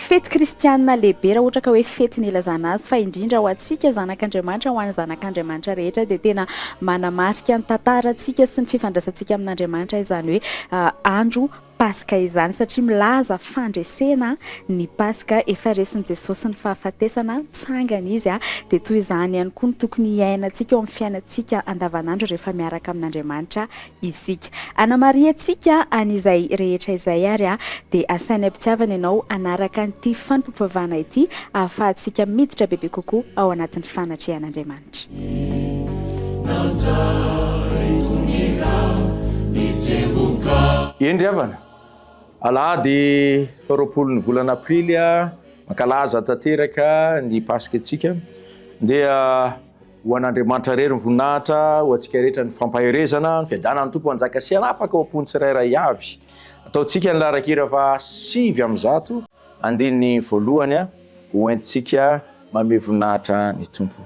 Fety kristianina lehibe raha ohatra ka hoe fety nilazana azy fa indrindra ho antsika zanak'Andriamanitra, ho an'ny zanak'Andriamanitra rehetra dia tena manamarika ny tantarantsika sy ny fifandraisantsika amin'Andriamanitra izany hoe andro paska izany satria milaza fandresena ny paska, efa resin'i Jesosy ny fahafatesana, nitsangana izy dia toy izany ihany koa no tokony hiainantsika eo amin'ny fiainantsika andavanandro rehefa miaraka amin'Andriamanitra isika. Anamarihantsika an'izay rehetra izay ary dia asainy am-pitiavana ianao hanaraka an'ity fanompoam-pivavahana ity ahafahantsika miditra bebe kokoa ao anatin'ny fanatrehan'Andriamanitra. Hendry havana, alahady faha roapolo ny volana aprily mankalaza tanteraka ny paska antsika dia. Ho an'Andriamanitra irery ny voninahitra, ho antsika rehetra ny fampaherezana, ny fiadanan'ny Tompo hanjaka sy hanapaka ao am-pon'ny tsirairay avy. Ataontsika ny laharan-kira faha sivy amby zato, andininy voalohany, ho entintsika manome voninahitra ny Tompo.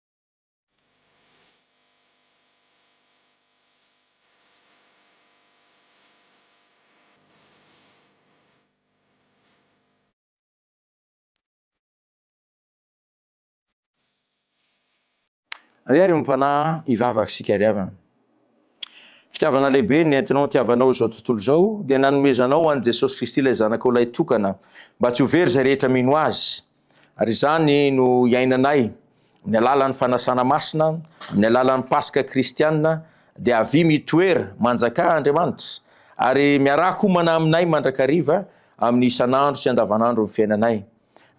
Ary ary ompana hivavaka sy hikariavana. Fitiavana lehibe nentinao nitiavanao izao tontolo izao dia nanomezanao an'i Jesosy Kristy ilay Zanakao Lahy Tokana mba tsy ho very izay rehetra mino Azy. Ary izany no iainanay, amin'ny alalan'ny fanasana masina, amin'ny alalan'ny Paska kristiana, dia avia mitoera, manjakà, Andriamanitra, ary miarahak' homana aminay mandrakariva amin'ny isan'andro sy andavanandron'ny fiainanay.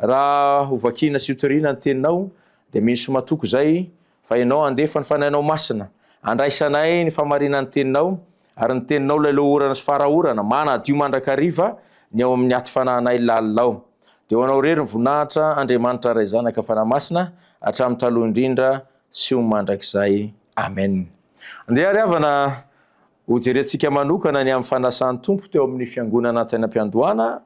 Raha hovakiana sy hotoriana ny Teninao, dia misy matoky izay, Fa Ianao handefa ny Fanahinao Masina, handraisanay ny famarinan'ny Teninao, ary ny Teninao ilay lohorana sy fara orana, manadio mandrakariva ny ao amin'ny aty fanahinay lalina ao. Dia ho Anao irery ny voninahitra, Andriamanitra Ray Zanaka Fanahy Masina, hatramin'ny taloha indrindra sy ho mandrakizay. Amen. Andeha ry havana ho jerentsika manokana ny amin'ny fanasan'ny Tompo teo amin'ny fiangonana tany am-piandohana,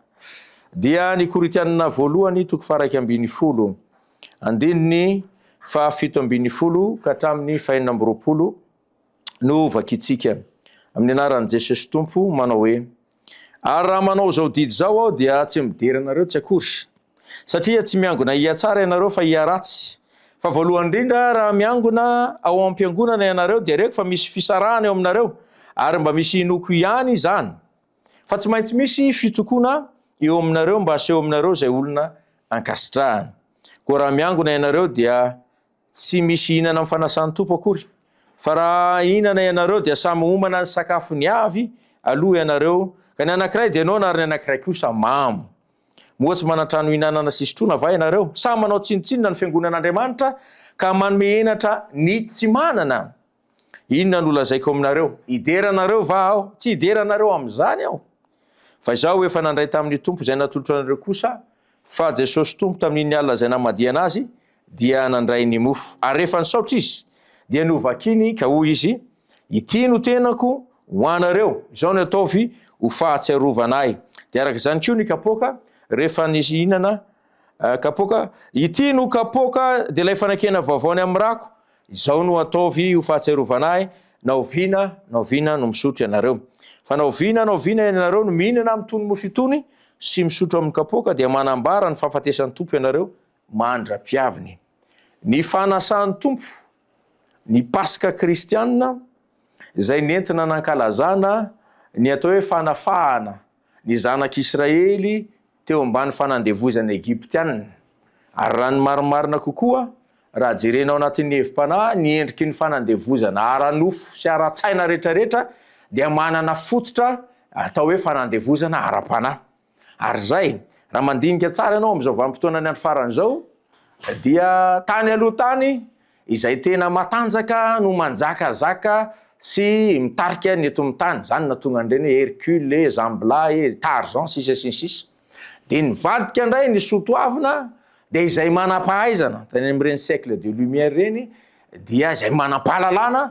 dia ny Korintianina voalohany toko faha iraika ambin'ny folo. Andininy faha fito ambin'ny folo ka hatramin'ny faha enina amby roapolo no vakintsika amin'ny anaran'i Jesosy Tompo manao hoe, Ary raha manao izao didy izao aho dia tsy midera anareo tsy akory, satria tsy miangona hihatsara ianareo fa hiharatsy. Fa voalohany indrindra raha miangona ao am-piangonana ianareo dia reko fa misy fisarahana eo aminareo ary mba misy inoako ihany izany. Fa tsy maintsy misy fitokoana eo aminareo mba haseho aminareo izay olona ankasitrahana. Koa raha miangona ianareo dia tsy misy hihinana amin'ny fanasan'ny Tompo akory. Fa raha hihinana ianareo dia samy homana ny sakafony avy aloha ianareo, ka ny anankiray dia noana ary ny anankiray kosa mamo. Moa tsy manan-trano hihinanana sy hisotroana va ianareo? Sa manao tsinontsinona ny fiangonan'Andriamanitra ka manome henatra ny tsy manana? Inona no lazaiko aminareo? Hidera anareo va Aho? Tsy hidera anareo amin'izany Aho. Fa Izaho efa nandray tamin'ny Tompo izay natolotro anareo kosa, fa Jesosy Tompo tamin'iny alina izay namadihana Azy, dia nandray ny mofo. Ary rehefa nisaotra Izy, dia novakiny, ka hoy Izy, Ity no tenako ho anareo, izao no ataovy ho fahatsiarovana Ahy. Dia araka izany koa ny kapoaka, rehefa nihinana kapoaka, Ity no kapoaka, dia ilay fanekena vaovao ny amin'ny rako, Izao no ataovy ho fahatsiarovana ahy, na oviana na oviana no misotro ianareo. Fa na oviana na oviana ianareo no mihinana amin'itony mofo itony sy misotro amin'ny kapoaka dia manambara ny fahafatesan'ny Tompo ianareo mandra-pihaviny. Ny fanasan'ny Tompo ny Paska kristiana izay nentina nankalazana ny atao hoe fanafahana Ny zanak'Israely teo ambany fanandevoizana Egyptiana. Ary raha ny marimarina kokoa, raha jerena ao anatin'ny hevi-panahy, ny endriky ny fanandevoizana ara-nofo sy ara-tsaina rehetrarehetra dia manana fototra atao hoe fanandevoizana ara-panahy. Ary izay, raha mandinika tsara ianao amin'izao vanim-potoanan'ny andro farany izao, dia tany aloha tany, Izay tena matanjaka no manjakazaka sy mitarika ny eto amin'ny tany, izany no nahatonga an'ireny hoe Hercule e, Zambla e, Tarzan, sisa sy ny sisa. Dia nivadika indray ny soatoavina, dia izay manam-pahaizana, tany amin'ireny siècle de lumière ireny, dia izay manam-pahalalana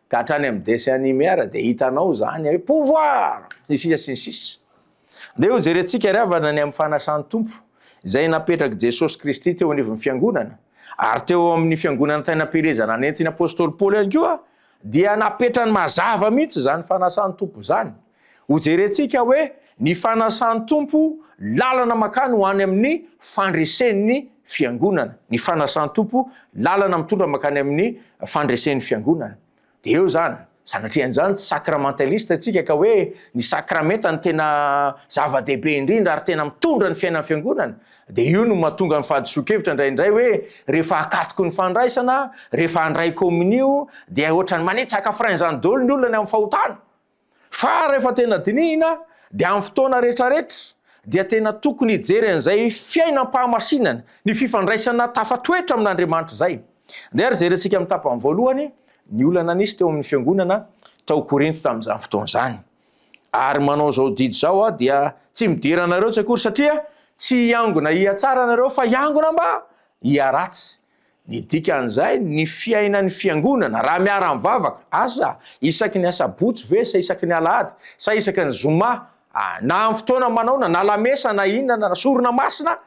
Ka hatrany amin'ny dessin anime ara dia hitanao izany hoe pouvoir! sy ny sisa sy ny sisa. Ndeha hojerentsika ry havana ny amin'ny fanasan'ny Tompo izay napetrak'i Jesosy Kristy teo anivon'ny fiangonana ary teo amin'ny fiangonan'ny tainam-pielezana nentin'ny apostoly Paoly ihany koa dia napetrany mazava mihitsy izany fanasan'ny Tompo izany. Hojerentsika hoe ny fanasan'ny Tompo lalana makany ho any amin'ny fandresen'ny Fiangonana, ny fanasan'ny Tompo lalana mitondra makany amin'ny fandresen'ny Fiangonana. Dia eo izany, sanatrian'izany tsy sacramentaliste tsika ka hoe ny sakramenta no tena zava-dehibe indrindra ary tena mitondra ny fiainan'ny Fiangonana, dia io no mahatonga ny fahadisoan-kevitra indraindray hoe rehefa akatoky ny fandraisana, rehefa handray kominio dia ohatran'ny manitsaka frein izany daholo ny olona ny amin'ny fahotana. Fa rehefa tena dinihina dia amin'ny fotoana rehetrarehetra dia tena tokony hijery an'izay fiainam-pahamasinana, ny fifandraisana tafatoetra amin'Andriamanitra izay. Andeha ary jerentsika amin'ny tapany voalohany ny olana nisy teo amin'ny fiangonana tao Korinto tamin'izany fotoana izany. Ary manao izao didy izao aho dia tsy midera anareo tsy akory satria tsy hiangona hihatsara ianareo fa hiangona mba hiharatsy. Ny dikan'izay, ny fiainan'ny Fiangonana, raha miara-mivavaka, asa isaky ny asabotsy ve sa isaky ny alahady, sa isaky ny zoma, na amin'ny fotoana manaona, na lamesa, na inona, na sorona masina,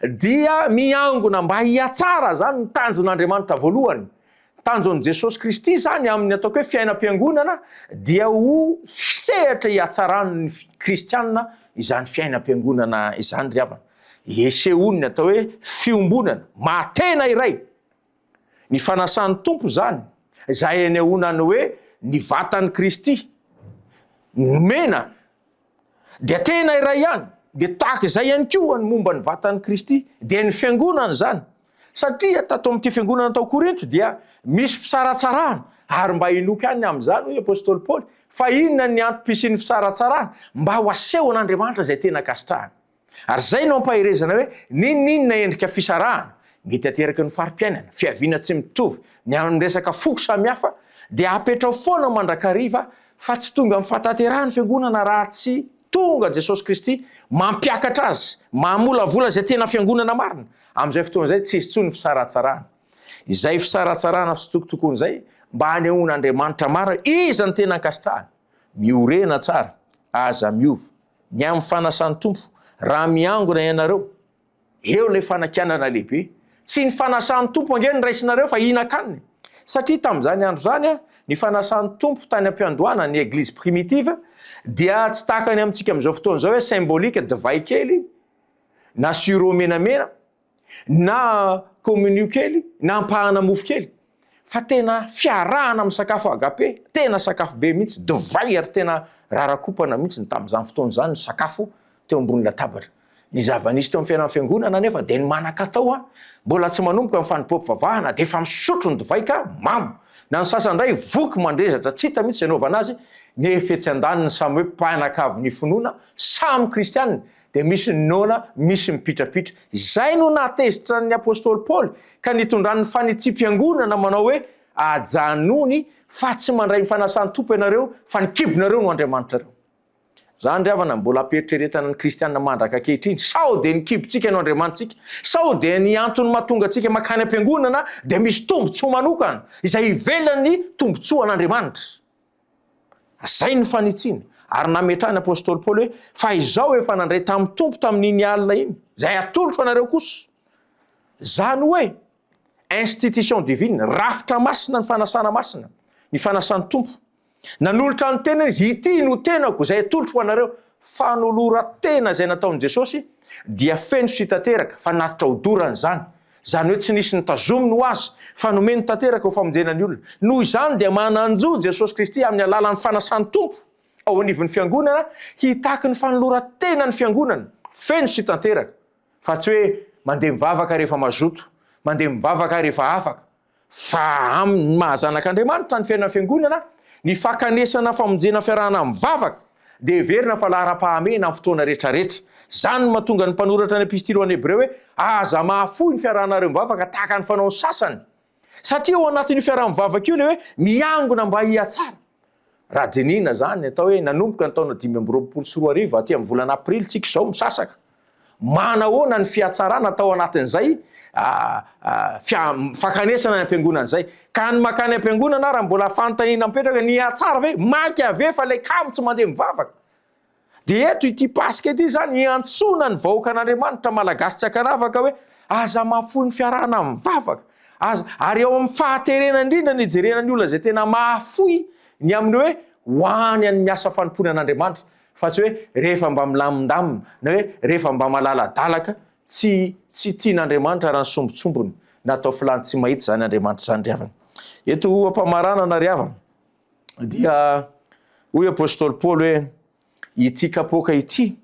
dia miangona mba hihatsara izany ny tanjon'Andriamanitra voalohany. Ny tanjon'i Jesosy Kristy izany amin'ny ataoko hoe fiainam-piangonana dia ho hisehatra hihatsaràn'ny Kristiana izany fiainam-piangonana izany ry havana. Isehoan'ny atao hoe fiombonana maha-tena iray ny fanasan'ny Tompo izany, izay anehoana ny hoe ny vatan'i Kristy nomena dia tena iray ihany, dia tahaka izay ihany koa ny momba ny vatan'i Kristy dia ny Fiangonana izany, satria tato amin'ity Fiangonana tao Korinto dia misy fisaratsarahana, ary mba hinoako ihany amin'izany hoy Apostoly Paoly, fa inona ny antom-pisian'ny fisaratsarahana? Mba ho asehon'Andriamanitra izay tena ankasitrahany. Ary izay no ampaherezana hoe n'inon'inona endrika fisarahana mety ateraky ny fari-piainana, fiaviana tsy mitovy, ny amin'ny resaka foko samihafa dia apetrao foana mandrakariva fa tsy tonga amin'ny fahatanterahan'ny Fiangonana raha tsy tonga Jesosy Kristy mampiakatra azy, mamolavola izay tena Fiangonana marina. Amin'izay fotoana izay tsy hisy intsony fisaratsarahana. Izay fisaratsarahana fitsitokotokoana izay mba hanehoan'Andriamanitra marina iza no tena ankasitrahany. Miorena tsara, aza miova, ny amin'ny fanasan'ny Tompo, raha miangona ianareo, eo ilay fanakianana lehibe. Tsy ny fanasan'ny Tompo ange no raisinareo fa hinakaniny. Satria tamin'izany andro izany, ny fanasan'ny Tompo tany am-piandohana, ny Eglizy primitive, dia tsy tahaka ny amintsika amin'izao fotoana izao hoe symbolique, divay kely na sirop menamena, na communion kely na ampahana mofo kely fa tena fiarahana amin'ny sakafo agape, tena sakafo be mihitsy, divay ary tena rarakopana mihitsy ny tamin'izany fotoana izany ny sakafo teo ambony latabatra. Ny zava-nisy teo amin'ny fiainan'ny fiangonana anefa dia ny manan-katao an, mbola tsy manomboka ny fanompoam-pivavahana dia efa misotro ny divay ka mamo, na ny sasany indray voky mandrezatra tsy hita mihitsy izay anaovana azy, nefa etsy andaniny samy hoe mpianakavin'ny finoana, samy kristiana, dia misy ny noana, misy ny mipitrapitra. Izay no nahatezitra ny apostoly Paoly ka nitondrany ny fanitsiam-piangonana manao hoe, Ajanony fa tsy mandray ny fanasan'ny Tompo ianareo fa ny kibonareo no andriamanitrareo. Izany ry havana no mbola ampiheritreretana ny kristiana mandraka ankehitriny, sao dia ny kibontsika no andriamanitsika, sao dia ny antony mahatonga antsika mankany am-piangonana dia misy tombontsoa manokana izay ivelan'ny tombontsoan'Andriamanitra. Izay ny fanitsiana. Ary nametrahan'ny apostoly Paoly hoe, fa izao efa nandray tamin'ny Tompo tamin'iny alina iny, izay atolotro anareo kosa. Izany hoe, institution divine, rafitra masina ny fanasana masina, ny fanasan'ny Tompo. Nanolotra ny tenany izy, ity no tenako izay atolotro ho anareo. Fanoloran-tena izay nataon'i Jesosy dia feno sy tanteraka fa naritra odorana izany, izany hoe tsy nisy nitazominy ho azy fa nomeny tanteraka ho famonjena ny olona. Noho izany dia manan-jo Jesosy Kristy amin'ny alalan'ny fanasan'ny Tompo ao anivon'ny Fiangonana hitaky ny fanoloran-tena ny Fiangonana feno sy tanteraka fa tsy hoe mandeha mivavaka rehefa mazoto, mandeha mivavaka rehefa afaka. Fa amin' ny maha zanak' Andriamanitra ny fiainana fiangonana, ny fakanesana famonjena fiarahana amin' ny vavaka dia heverina fa laharam-pahamehana amin' ny fotoana rehetrarehetra. Izany no mahatonga ny mpanoratra ny epistily ho an' ny Hebreo hoe, Aza mahafoy ny fiarahanareo mivavaka tahaka ny fanaon' ny sasany. Satria ao anatin' io fiaraha-mivavaka io ilay hoe miangona mba hihatsara. Raha dinihina izany, atao hoe nanomboka ny taona dimy amby roapolo sy roa arivo aty amin'ny volana aprily tsika izao misasaka. Manahoana ny fihatsarana tao anatin'izay fankanesana any am-piangonana izay? Ka ny mankany am-piangonana ary mbola fanontaniana mipetraka, nihatsara ve? Mainka ve fa ilay kamo tsy mandeha mivavaka? Dia eto ity Paska ity izany hiantsoana ny vahoakan'Andriamanitra Malagasy tsy ankanavaka hoe aza mahafoy ny fiarahana mivavaka, aza, ary eo amin'ny fahaterena indrindra ny hijerena ny olona izay tena mahafoy ny amin'ny hoe ho any amin'ny asa fanompoana an'Andriamanitra fa tsy hoe rehefa mba milamindamina na hoe rehefa mba malaladalaka tsy tsy tian'Andriamanitra raha ny sombintsombiny na atao filany tsy mahita izany Andriamanitra izany ry havana. Eto ampamaranana ry havana. dia hoy apostoly Paoly hoe ity kapoaka ity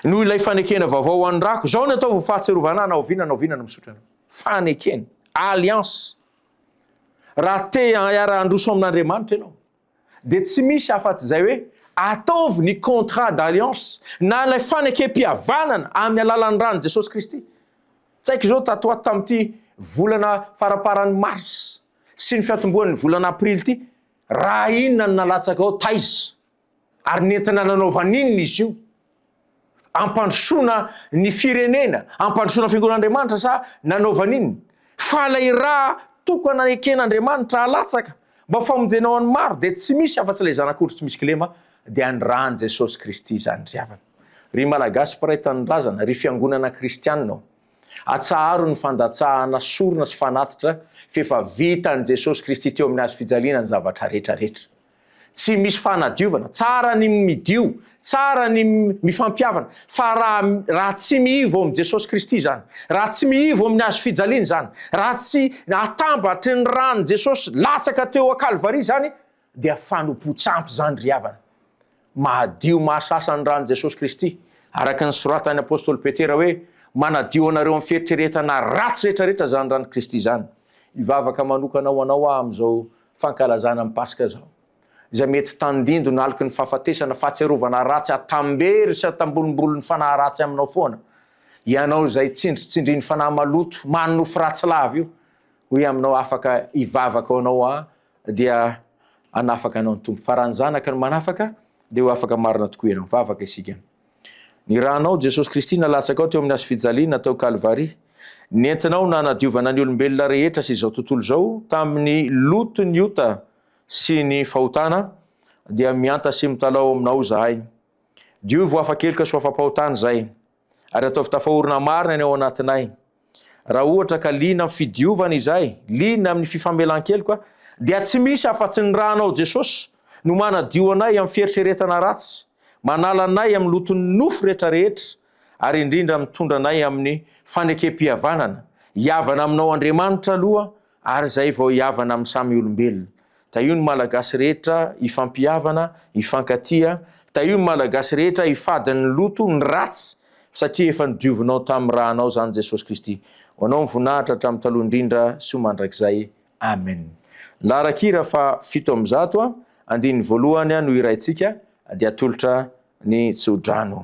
no ilay fanekena vaovao ho an'ny rako. Zao ny ataovy ho fahatsiarovana na oviana na oviana no misotra anao. Fanekena, alliance. Raha te hiara-handroso amin'Andriamanitra ianao, dia tsy misy afa-tsy izay hoe ataovy ny contrat d'alliance na ilay fanekempihavanana amin'ny alalan'ny ran'i Jesosy Kristy. Tsaiky izao tato ho ato tamin'ity volana faramparan'ny mars sy ny fiantombohan'ny volana aprily ity, raha inona no nalatsaka ao, taiza, ary nentina nanaovana inona izy io? Ampandrosoana ny firenena, ampandrosoana ny fiangonan'Andriamanitra sa nanaovana inona? Fa ilay ra tokana eken'Andriamanitra halatsaka mba famonjena ho an'ny maro dia tsy misy afa-tsy ilay Zanak'ondry tsy misy kilema, dia ny ran'i Jesosy Kristy izany ry havana. Ry Malagasy mpiray tanindrazana, ry fiangonana kristiana ô! Atsaharo ny fandatsahana sorona sy fanatitra f'efa vitan'i Jesosy Kristy teo amin'ny hazo fijaliana ny zavatra rehetra rehetra. Tsy misy fanadiovana, tsara ny midio, tsara ny mifampihavana fa raha raha tsy mihivo amin'i Jesosy Kristy izany, raha tsy mihivo amin'ny hazo fijaliana izany, raha tsy atambatry ny ran'i Jesosy latsaka teo an-Kalvary izany, dia fanompoan-tsampy izany ry havana. Mahadio mahasasa ny ran'i Jesosy Kristy, araka ny soratan'ny apostoly Petera hoe, Manadio anareo amin'ny fieritreretana ratsy rehetra rehetra izany ran'i Kristy izany. Hivavaka manokana ho anao aho amin'izao fankalazana ny Paska izao. Izay mety tandindoy naloky ny fahafatesana, fahatsiarovana ratsy atambery sy atambolombolon'ny fanahy ratsy aminao foana. Ianao izay tsindritsindrin'ny fanahy maloto, manonofy ratsy lava io, hoy aminao afaka hivavaka ho anao aho dia hanafaka anao ny Tompo. Fa raha ny Zanaka no manafaka, dia ho afaka marina tokoa ianao. Vavaka isika. Ny ranao Jesosy Kristy nalatsakao teo amin'ny hazo fijaliana tao Kalvary, nentinao nanadiovana ny olombelona rehetra sy izao tontolo izao tamin'ny loton'ny ota sy ny fahotana, dia mihanta sy mitalaho ao aminao izahay. Diovy ho afa-keloka sy ho afa-pahotana izahay. ary ataovy tafaorina marina ny ao anatinay. Raha ohatra ka liana amin'ny fidiovana izahay, liana amin'ny fifamelan-keloka, dia tsy misy afa-tsy ny ranao Jesosy no manadio anay amin'ny fieritreretana ratsy, manala anay amin'ny loton'ny nofo rehetra rehetra, ary indrindra mitondra anay amin'ny fanekempihavanana. Hihavana aminao Andriamanitra aloha Ary izay vao hihavana amin'ny samy olombelona. Tahio ny Malagasy rehetra hifampihavana, hifankatia. Tahio ny Malagasy rehetra hifady ny loto, ny ratsy, satria efa nodiovinao tamin'ny ra anao izany Jesosy Kristy. Ho anao ny voninahitra hatramin'ny taloha indrindra sy ho mandrakizay. Amen. Ny laharan-kira faha fito amby zato, andininy voalohany no hiraintsika, dia atolotra ny tso-drano.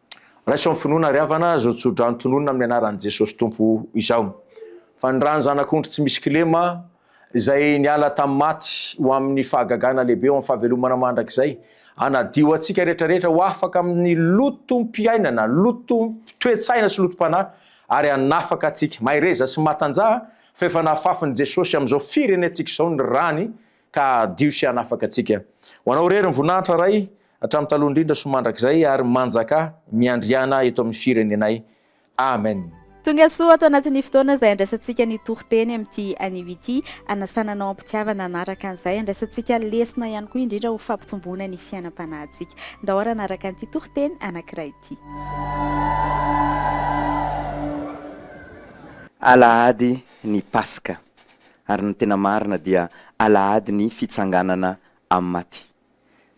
Raiso amin'ny finoana ry havana izao tsodrano tononina amin'ny anaran'i Jesosy Tompo izao. Fa ny ran'ny Zanak'ondry tsy misy kilema izay niala tamin'ny maty ho amin'ny fahagagana lehibe ho amin'ny fahavelomana mandrakizay, hanadio antsika rehetra rehetra ho afaka amin'ny lotom-piainana, lotom-toe-tsaina sy lotom-panahy ary hanafaka antsika. Mahereza sy matanjaha fa efa nahafafin'i Jesosy amin'izao firenentsika izao ny rany ka hadio sy hanafaka antsika. Ho Anao irery ny voninahitra, Ray, hatramin'ny taloha indrindra sy mandrakizay, ary manjaka miandriana eto amin'ny firenenay. Amen. Tongasoa ato anatin'ny fotoana izay andraisantsika ny toriteny amin'ity anio ity. Anasana anao am-pitiavana hanaraka an'izay. Andraisantsika lesona ihany koa indrindra ho fampitomboana ny fiainam-panahintsika. Ndao ary hanaraka an'ity toriteny anankiray ity. Alahady ny Paska. ary ny tena marina dia alahady ny fitsanganana amin'ny maty.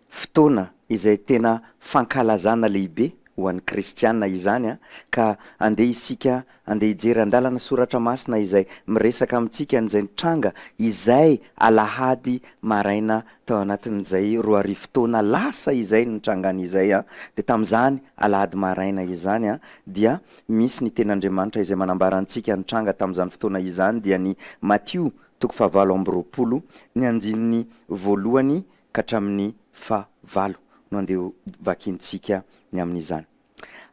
Fotoana izay tena fankalazana lehibe ho an'ny kristiana izany ka andeha isika andeha hijery andalana soratra masina izay miresaka amintsika an'izay nitranga izay alahady maraina tao anatin'izay roa arivo taona lasa izay nitrangan'izay dia tamin'izany alahady maraina izany dia misy ny tenin'Andriamanitra izay manambara antsika nitranga tamin'izany fotoana izany dia ny Matio toko fahavalo amby roapolo ny andininy voalohany ka hatramin'ny faha valo no andeha ho vakintsika ny amin'izany.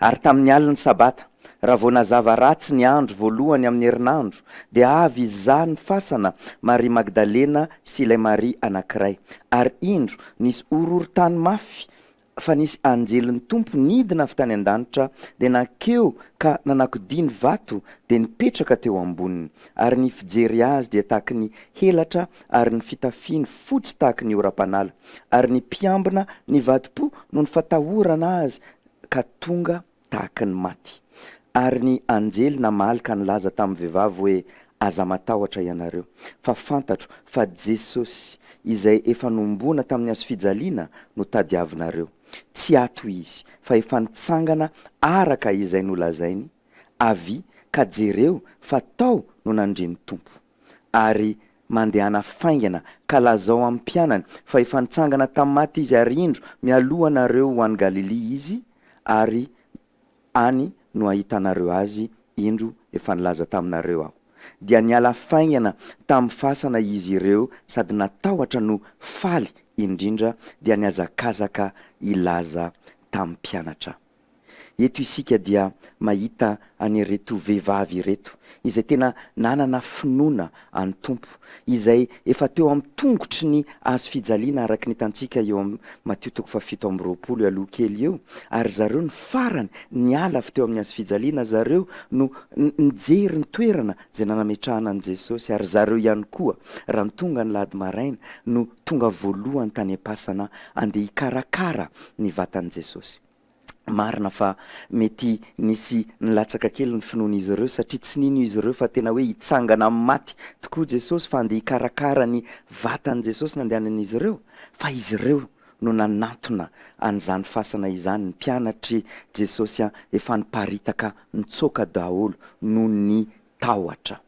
Ary tamin'ny alin'ny sabata, raha vao nazava ratsy ny andro voalohany amin'ny herinandro, dia avy izaho ny fasana, Maria Magdalena sy ilay Maria anankiray, ary indro nisy horohorontany mafy fa nisy anjelin'ny Tompo nidina avy tany an-danitra dia nankeo ka nanakodia ny vato dia nipetraka teo amboniny, ary ny fijery azy dia tahaky ny helatra ary ny fitafiny fotsy tahaky ny oram-panala, ary ny mpiambina nivadi-po noho ny fatahorana azy ka tonga tahaka ny maty. Ary ny anjely namaly ka nilaza tamin'ny vehivavy hoe, Aza matahotra ianareo, fa fantatro fa Jesosy, izay efa nohomboana tamin'ny hazofijaliana, no tadiavinareo. Tsy ato izy, fa efa nitsangana araka izay nolazainy, avia, ka jereo fa tao no nandre ny Tompo. ary mandehana faingana ka lazao amin'ny mpianany fa efa nitsangana tamin'ny maty Izy ary indro mialohanareo ho any Galilia Izy ary any no ahitanareo Azy indro efa nilaza taminareo Aho. Dia niala faingana tamin'ny fasana izy ireo sady natahotra no faly indrindra dia nihazakazaka hilaza tamin'ny mpianatra. Eto isika dia mahita an'ireto vehivavy ireto izay tena nanana finoana an'ny Tompo, izay efa teo amin'ny tongotry ny hazo fijaliana araka ny hitantsika eo amin'ny Matio toko fahafito amby roapolo aloha kely eo, ary zareo no farany niala avy teo amin'ny hazo fijaliana, zareo no nijery ny toerana izay nanametrahana an'i Jesosy, ary zareo ihany koa raha ny tonga ny lady maraina no tonga voalohany tany am-pasana andeha hikarakara ny vatan'i Jesosy. Marina fa mety nisy nilatsaka kely ny finoan'izy ireo, satria tsy nino izy ireo fa tena hoe hitsangana amin'ny maty tokoa Jesosy, fa andeha hikarakara ny vatan'i Jesosy no andehanan'izy ireo. Fa izy ireo no nanantona an'izany fasana izany. Ny mpianatr'i Jesosy efa niparitaka nitsoaka daholo noho ny tahotra.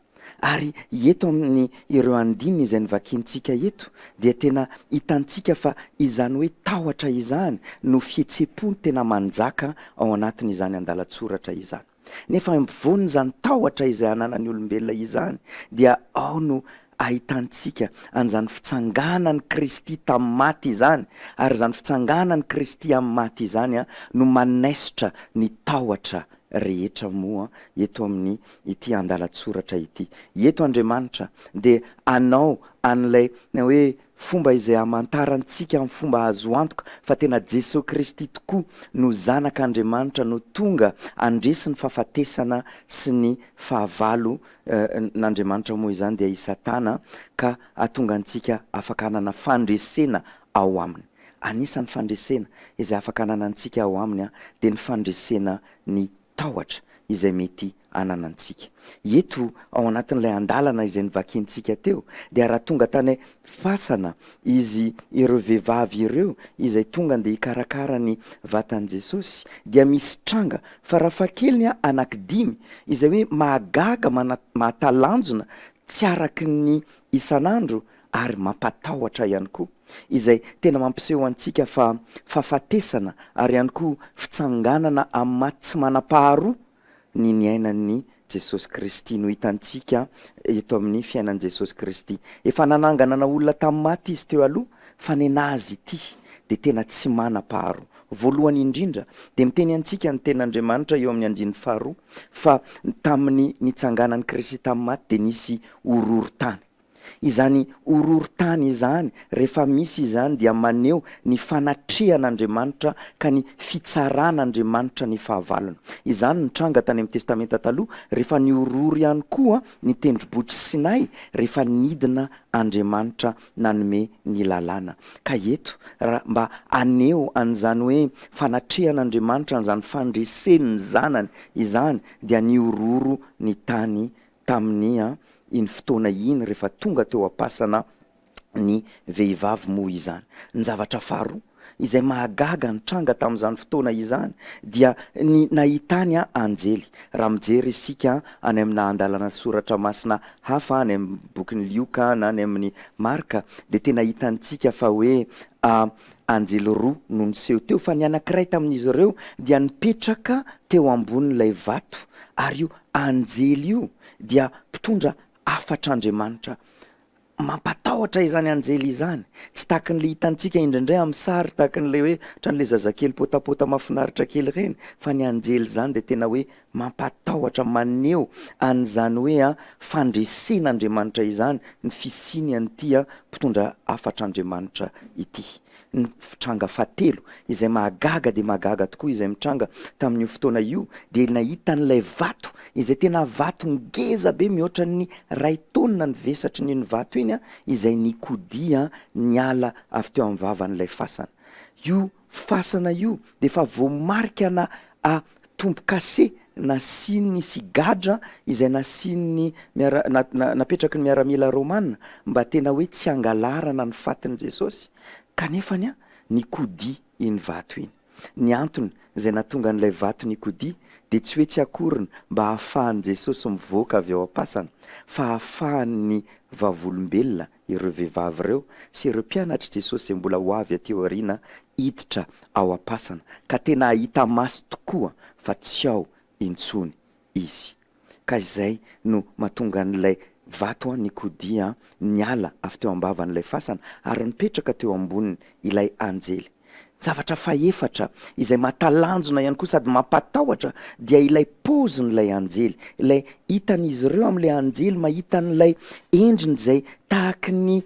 Ary eto amin ireo andininy izay novakiantsika eto dia tena hitantsika fa izany hoe tahotra izany no fihetse-po tena manjaka ao anatin izany andalan-tsoratra izany. Nefa eo ampovoan izany tahotra izay ananan ny olombelona izany dia ao no ahitantsika an izany fitsanganan i Kristy tamin ny maty izany, ary izany fitsanganan i Kristy amin ny maty izany no manesitra ny tahotra rehetra moa eto amin' ity andalan-tsoratra ity. Eto Andriamanitra dia anao an' ilay hoe fomba izay hamantarantsika amin' ny fomba azo antoka fa tena Jesoa Kristy tokoa no Zanak' Andriamanitra no tonga handresy ny fahafatesana sy ny fahavalo n' Andriamanitra moa izany dia i Satana ka hahatonga antsika afaka hanana fandresena ao aminy. Anisan'ny fandresena izay afaka ananantsika ao aminy dia ny fandresena ny tahotra izay mety ananantsika. Eto ao anatin'ilay andalana izay novakintsika teo dia raha tonga tany fasana izy ireo vehivavy ireo izay tonga ndeha hikarakara ny vatan'i Jesosy dia misy tranga farafahakeliny anaky dimy izay hoe mahagaga, mahatalanjona, tsy araky ny isan'andro ary mampatahotra ihany koa, izay tena mampiseho antsika fa fahafatesana ary ihany koa fitsanganana amin'ny maty tsy manam-paharoa ny niainan'i Jesosy Kristy, no hitantsika eto amin'ny fiainan'i Jesosy Kristy. Efa nananganana olona tamin'ny maty Izy teo aloha, fa nenazy ity dia tena tsy manam-paharoa. Voalohany indrindra, dia miteny antsika ny Tenin'Andriamanitra eo amin'ny andininy faharoa, fa tamin'ny nitsanganan'i Kristy tamin'ny maty dia nisy horohorontany. Izany horohorontany izany, rehefa misy izany, dia maneho ny fanatrehan'Andriamanitra ka ny fitsaran'Andriamanitra ny fahavalony. Izany nitranga tany amin'ny Testamenta Taloha, rehefa nihorohoro ihany koa ny Tendrombohitr'i Sinay, rehefa nidina Andriamanitra nanome ny Lalàna. Ka eto, raha mba haneho an'izany hoe fanatrehan'Andriamanitra an'izany fandresen'ny Zanany izany, dia nihorohoro ny tany Tamin' iny fotoana iny, rehefa tonga teo am-pasana ny vehivavy moa izany. Ny zavatra faharoa izay mahagaga nitranga tamin' izany fotoana izany dia ny nahitany anjely. Raha mijery isika any amina andalana soratra masina hafa, any amin' ny Bokin' i Lioka na any amin' i Marka, dia tena hitantsika fa hoe anjely roa no niseho teo, fa ny anankiray tamin' izy ireo dia nipetraka teo ambonin' ilay vato, ary io Anjely io dia mpitondra hafatr'Andriamanitra. Mampatahotra izany anjely izany. Tsy tahakan'ilay hitantsika indraindray amin'ny sary tahakan'ilay hoe ohatran'ilay zazakely potapota mahafinaritra kely ireny fa ny anjely izany dia tena hoe mampatahotra maneho an'izany hoe fandresen'Andriamanitra izany ny fisiany an'ity mpitondra hafatr'Andriamanitra ity. Ny tranga fahatelo izay mahagaga dia mahagaga tokoa izay mitranga tamin'io fotoana io dia nahita an'ilay vato izay tena vato ngeza be mihoatra ny ray taonina ny vesatry n'iny vato iny izay nikodia niala avy teo amin'ny vavan'ilay fasana. Io fasana io dia efa voamarikana a. tombokase nasian'ny sy gadra izay nasian'ny miara na napetraky ny miaramila romana mba tena hoe tsy hangalarana ny fatin'i Jesosy kanefa ny nikodia iny vato iny. Ny antony izay natonga an'ilay vato nikodia dia tsy hoe tsy akoriny mba hahafahan'i Jesosy mivoaka avy ao am-pasana fa hahafahan'ny vavolombelona ireo vehivavy ireo sy ireo mpianatr'i Jesosy izay mbola ho avy aty aoriana hiditra ao am-pasana, ka tena hahita maso tokoa fa tsy ao intsony izy. Ka izay no mahatonga an'ilay vato nikodia niala avy teo am-bavan'ilay fasana ary nipetraka teo amboniny ilay anjely. Zavatra fahefatra, izay mahatalanjona ihany koa sady mampatahotra, dia ilay paozin'ilay anjely, ilay hitan'izy ireo amin'ilay anjely mahita an'ilay endriny izay tahaky ny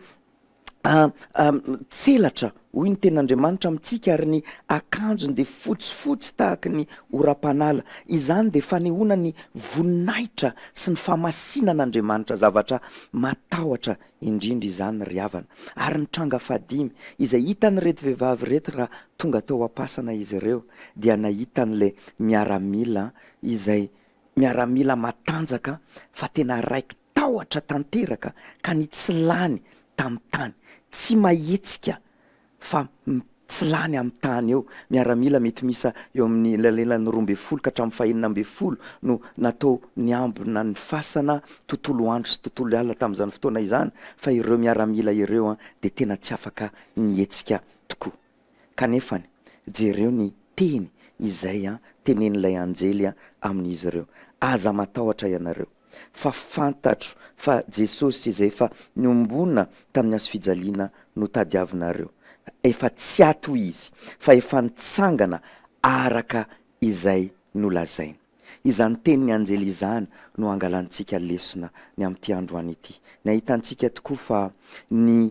tselatra, hoy ny Tenin'Andriamanitra amintsika, ary ny akanjony dia fotsifotsy tahaky ny oram-panala. Izany dia fanehoana ny voninahitra sy ny fahamasinan'Andriamanitra, zavatra matahotra indrindra izany ry havana. Ary ny tranga fahadimy, izay hitan'ireto vehivavy ireto raha tonga tao am-pasana izy ireo dia nahita an'ilay miaramila izay miaramila matanjaka fa tena raiki-tahotra tanteraka ka ny tsy lany tamin'ny tany, tsy mahetsika fa tsy lany amin'ny tany eo. Miaramila mety miisa eo amin'ny elanelan'ny roa ambin'ny folo ka hatramin'ny fahenina ambin'ny folo no natao niambina ny fasana tontolo andro sy tontolo alina tamin'izany fotoana izany fa ireo miaramila ireo dia tena tsy afaka nihetsika tokoa. Kanefa jereo ny teny izay tenenin'ilay anjely amin'izy ireo, Aza matahotra ianareo. fa fantatro fa Jesosy izay efa niombona tamin'ny hazo fijaliana no tadiavinareo. Efa tsy aty hoy izy, fa efa nitsangana araka izay nolazainy. Izany tenin'ny anjely izany no hangalantsika lesona ny amin'ity androany ity. Ny ahitantsika tokoa fa ny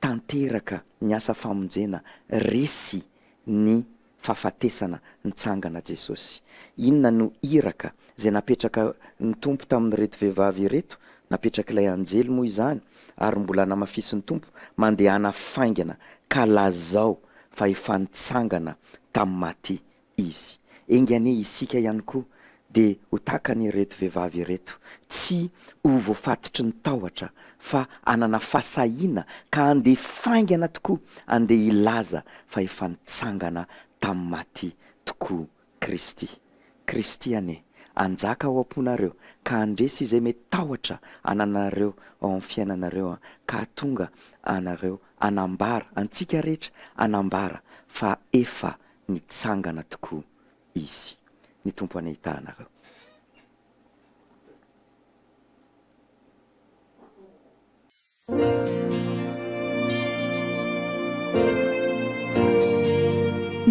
tanteraka ny asa famonjena resy ny fahafatesana nitsangana Jesosy. Inona no iraka izay napetraka ny Tompo tamin'ireto vehivavy ireto? Napetrak'ilay anjely moa izany ary mbola namafisin'ny Tompo, Mandehana faingana ka lazao fa efa nitsangana tamin'ny maty izy. Enga anie isika ihany koa dia ho tahaka an' ireto vehivavy ireto, tsy ho voafatotry ny tahotra fa hanana fahasahiana ka handeha faingana tokoa handeha hilaza fa efa nitsangana tamin'ny maty tokoa Kristy. Kristy anie hanjaka ao am-ponareo ka handresy izay mety tahotra ananareo ao amin'ny fiainanareo ka hahatonga anareo hanambara, antsika rehetra hanambara fa efa nitsangana tokoa izy. Ny Tompo hanahita anareo.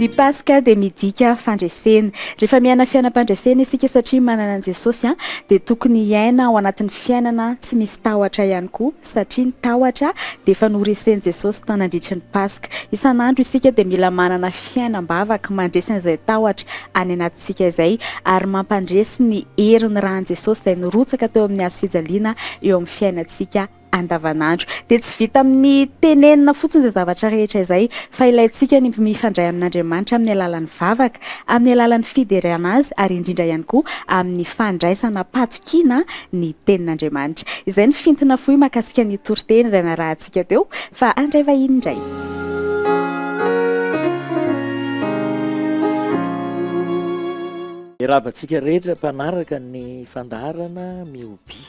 Ny Paska dia midika fandresena. Rehefa miaina fiainam-pandresena isika satria manana an'i Jesosy dia tokony hiaina ao anatin'ny fiainana tsy misy tahotra ihany koa. satria ny tahotra dia efa noresen'i Jesosy tao nandritry ny Paska. Isan'andro isika dia mila manana fiainam-bavaka mandresy an'izay tahotra any anatintsika izay, ary mampandresy ny herin'ny ran'i Jesosy izay nirotsaka teo amin'ny hazo fijaliana eo amin'ny fiainantsika andavanandro. Dia tsy vita amin'ny tenenina fotsiny izay zavatra rehetra izay, fa ilaintsika ny mifandray amin'Andriamanitra amin'ny alalan'ny vavaka, amin'ny alalan'ny fiderana Azy, ary indrindra ihany koa amin'ny fandraisana kiana ny tenin'Andriamanitra. Izay ny fintina fohy mahakasika ny toriteny izay narahantsika teo fa handray vahiny indray. Miarahaba antsika rehetra mpanaraka ny fandaharana Mihobi.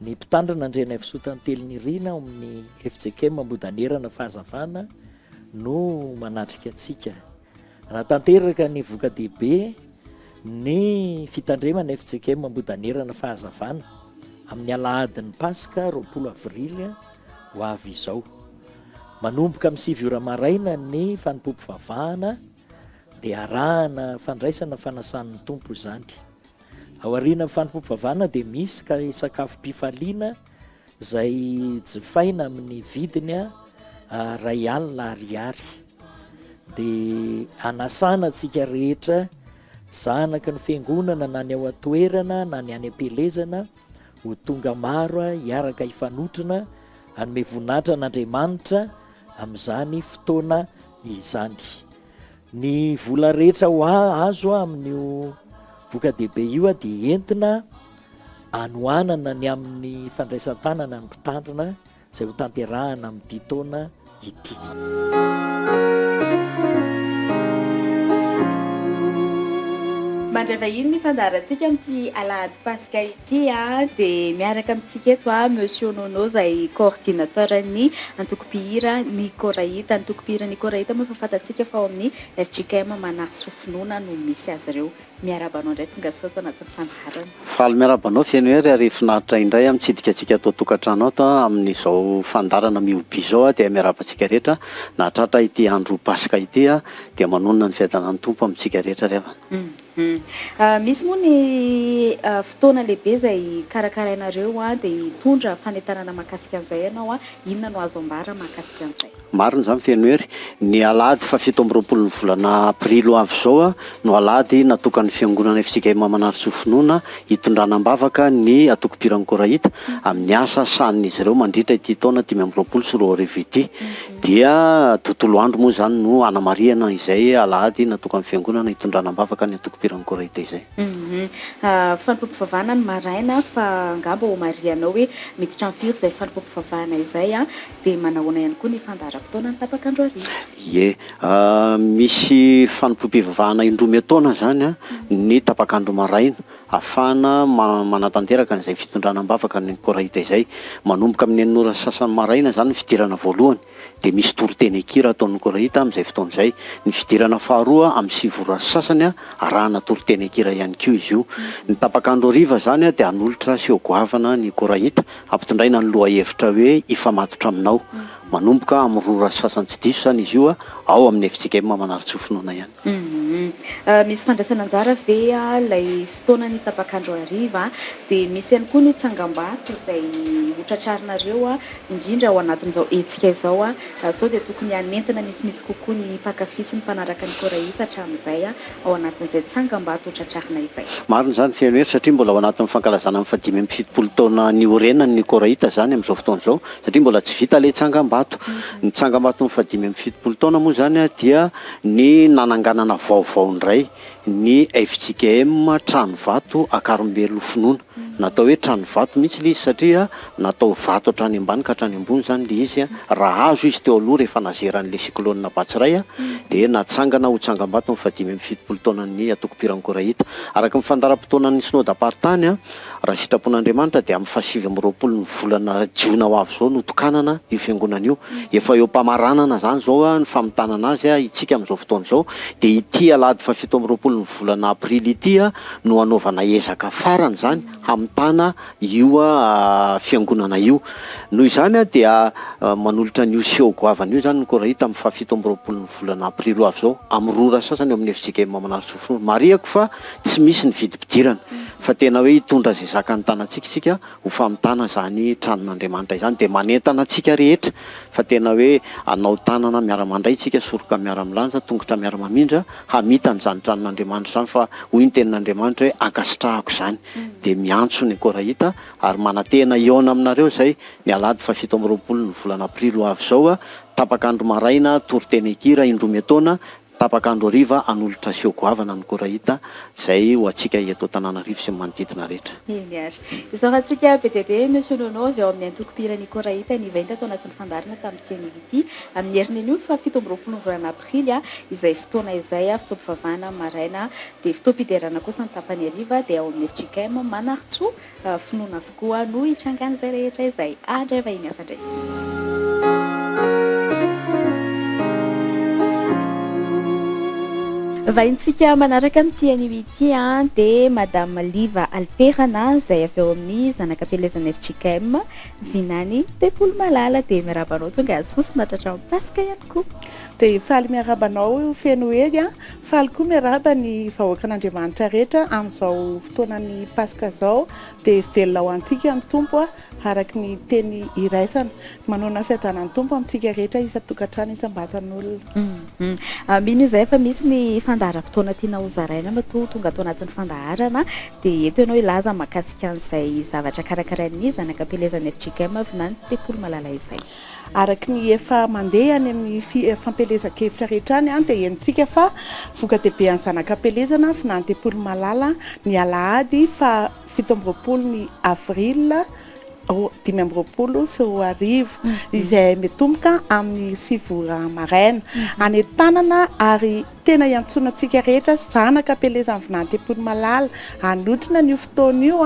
Ny mpitandrina Andrianaivosoa Tantely Nirina ao amin'ny FJKM Ambohidanerana Fahazavana no manatrika antsika. Raha tanteraka ny voka-dehibe ny fitandremana FJKM Ambohidanerana fahazavana amin'ny alahadin'ny Paska roapolo avrily ho avy izao. Manomboka amin'ny sivy ora maraina ny fanompoam-pivavahana dia arahana fandraisana fanasan'ny Tompo izany. Ao aorianan'ny fanompoam-pivavahana dia misy ka sakafom-pifaliana izay jifaina amin'ny vidiny iray alina ariary dia anasana antsika rehetra zanaky ny fiangonana na ny ao an-toerana na ny any am-pielezana ho tonga maro hiaraka hifanotrona hanome voninahitra an'Andriamanitra amin'izany fotoana izany. Ny vola rehetra ho azo amin'io voka-dehibe io dia entina anohanana ny amin'ny fandraisan-tanana ny mpitandrina izay ho tanterahana amin'ity taona ity. Mandray vahiny ny fandaharantsika amin'ity alahady paska ity. Ity dia miaraka amintsika eto Monsieur Nono izay coordinateur ny antokom-pihira Ny Koraita. Ny antokom-pihira Ny Koraita moa efa fantatsika fa ao amin'ny fjkm Manaratsy Finoana no misy azy ireo. Miarahaba anao indray tongasoa ato anatin'ny fandaharana. Faly miarahaba anao Fenohery ary finaritra indray aho mitsidika antsika ato an-tokantrano ato amin'izao fandaharana Mihoby izao aho dia miarahaba antsika rehetra nahatratra ity andro Paska ity dia manonona ny fiadanan'ny Tompo amintsika rehetra ry havana. Misy moa ny fotoana lehibe izay hikarakarainareo dia hitondra fanentanana mahakasika an'izay ianao, inona no azo ambara mahakasika an'izay? Marina izany feno hery. Ny alahady fahafito amby roapolo ny volana aprily ho avy izao no alahady natokan'ny Fiangonana FJKM Manarisoa Finoana hitondrana am-bavaka ny antokom-piran'ny Koraita amin'ny asa sahanin'izy ireo mandritra ity taona dimy amby roapolo sy roa arivo ity. Dia tontolo andro moa izany no hanamarihana izay alahady natokan'ny Fiangonana hitondrana am-bavaka ny antokom-piran'ny Koraite izay. Humm. Fanompoam-pivavahana ny maraina fa angamba homarihanao hoe miditra amin'ny firy izay fanompoam-pivavahana izay an? Dia manahoana ihany koa ny fandaharam-potoana ny tapak'andro hariva? Ie. Misy fanompoam-pivavahana indroa miataona izany an, ny tapak'andro maraina hahafahana manatanteraka an'izay fitondrana am-bavaka ny Koraita izay. Manomboka amin'ny enina ora sy sasany maraina izany ny fidirana voalohany, dia misy toriteny an-kira ataon'ny Koraita amin'izay fotoana izay. Ny fidirana faharoa amin'ny sivy ora sy sasany, arahana toriteny an-kira ihany koa izy io. Ny tapak'andro hariva izany dia hanolotra seho goavana ny Koraita, hampitondraina ny lohahevitra hoe Hifamatotra Aminao. Manomboka amin'ny roa ora sy sasany tsy diso izany izy io, ao amin'ny FCKM Manarintsoa Finoana ihany. Misy fandraisana anjara ve ilay fotoana ny tapak'andro hariva? Dia misy ihany koa ny tsangambato izay hotratrarinareo indrindra ao anatin'izao hetsika izao. Sao dia tokony hanentana misimisy kokoa ny mpankafy sy ny mpanaraka ny Koraita hatramin'izay ao anatin'izay tsangambato hotratrarina izay? Marina izany feno hery satria mbola ao anatin'ny fankalazana ny fahadimy amby fitopolo taona niorenany ny Koraita izany amin'izao fotoana izao satria mbola tsy vita ilay tsangambato. Ny tsangambaton'ny fahadimy amby fitopolo taona moa izany dia ny nananganana vaovao indray ny fjkm Tranovato Akarimbelo Finoana. Natao hoe Tranovato mihitsy ilay izy satria natao vato hatrany ambany ka hatrany ambony izany ilay izy. Raha hazo izy teo aloha rehefa nazeran'ilay cyclone Batsirai dia natsangana ho tsangambato ny fahadimy amby fitopolo taonan'ny Antoko Pirankora Hita. Araka ny fandaharam-potoanan'ny Synodam-paritany, Raha sitrapon'Andriamanitra dia amin'ny fahasivy amby roapolo ny volana jiona ho avy izao no tokanana io fiangonana io. Efa eo am-pamaranana izany izao ny famintanana azy. Itsika amin'izao fotoana izao dia ity alahady fahafito amby roapolo ny volana aprily ity no hanaovana ezaka farany izany hamitana io fiangonana io. Noho izany dia manolotra an'io seho goavana io izany ny Koraita amin'ny fahafito amby roapolo ny volana aprily ho avy izao amin'ny roa ora sasany eo amin'ny FJKM Manarintsoa Fonory. Marihako fa tsy misy ny vidim-pidirana. fa tena hoe hitondra izay zakan'ny tanantsika isika ho famitana izany tranon'Andriamanitra izany dia manentana antsika rehetra fa tena hoe hanao tanana miara-mandray isika soroka miara-milanja tongotra miara-mamindra hamitana izany tranon'Andriamanitra izany fa hoy ny tenin'Andriamanitra hoe ankasitrahako izany dia miantso ny Koraita ary manantena hihaona aminareo izay ny alahady fahafito amby roapolo ny volana aprily ho avy izao tapak'andro maraina toriteny hikira indroa miataona Tapaka andro hariva hanolotra seho goavana ny Korahita izay ho antsika eto Antananarivo sy ny manodidina rehetra. Eny ary. Isaorantsika be dia be Monsieur Nono avy ao amin'ny antokom-pihiran'ny Korahita nivainta tao anatin'ny fandaharana tamin'ity anio ity, amin'ny heriny anio faha fito amby roapolo ny volana aprily, izay fotoana izay fotoam-pivavahana maraina dia fotoam-piderana kosa ny tapany hariva dia ao amin'ny FJKM Manarintsoa. Raha finoana avokoa no itrangan'izay rehetra izay handray vahiny hafa indray isika. Vahintsika manaraka amin'ity anio ity dia Madame Liva Alperana izay avy ao amin'ny zanakam-pielezana FJKM Vinany Tempoly Malala dia miaraba anao tonga sosona tratran'ny Paska ihany koa. Dia faly miaraba anao feno hery Faly koa miarahaba ny vahoakan'Andriamanitra rehetra amin'izao fotoanan'ny Paska izao dia velona ho antsika ny Tompo araka ny teny iraisana. Manoana fiadanan'ny Tompo amintsika rehetra isan-tokantrano isam-batan'olona. Mino izahay fa misy ny fandaharam-potoana tiana ho zaraina matoa tonga tao anatin'ny fandaharana dia eto ianao hilaza mahakasika an'izay zavatra karakarain'ny zanak'ampielezan'ny fjkm avy na ny tempoly malala izay. Araka ny efa mandeha any amin'ny fampielezan-kevitra rehetra any dia henontsika fa voka-dehibe an'ny zanak'ampielezana vinany tempoly Malala ny alahady faha fito amby roapolo ny avril dimy amby roapolo sy roa arivo izay mitomboka amin'ny sivy ora maraina any an-tanana ary tena hiantsoana antsika rehetra zanak'ampielezana vinany tempoly Malala hanotrona an'io fotoana io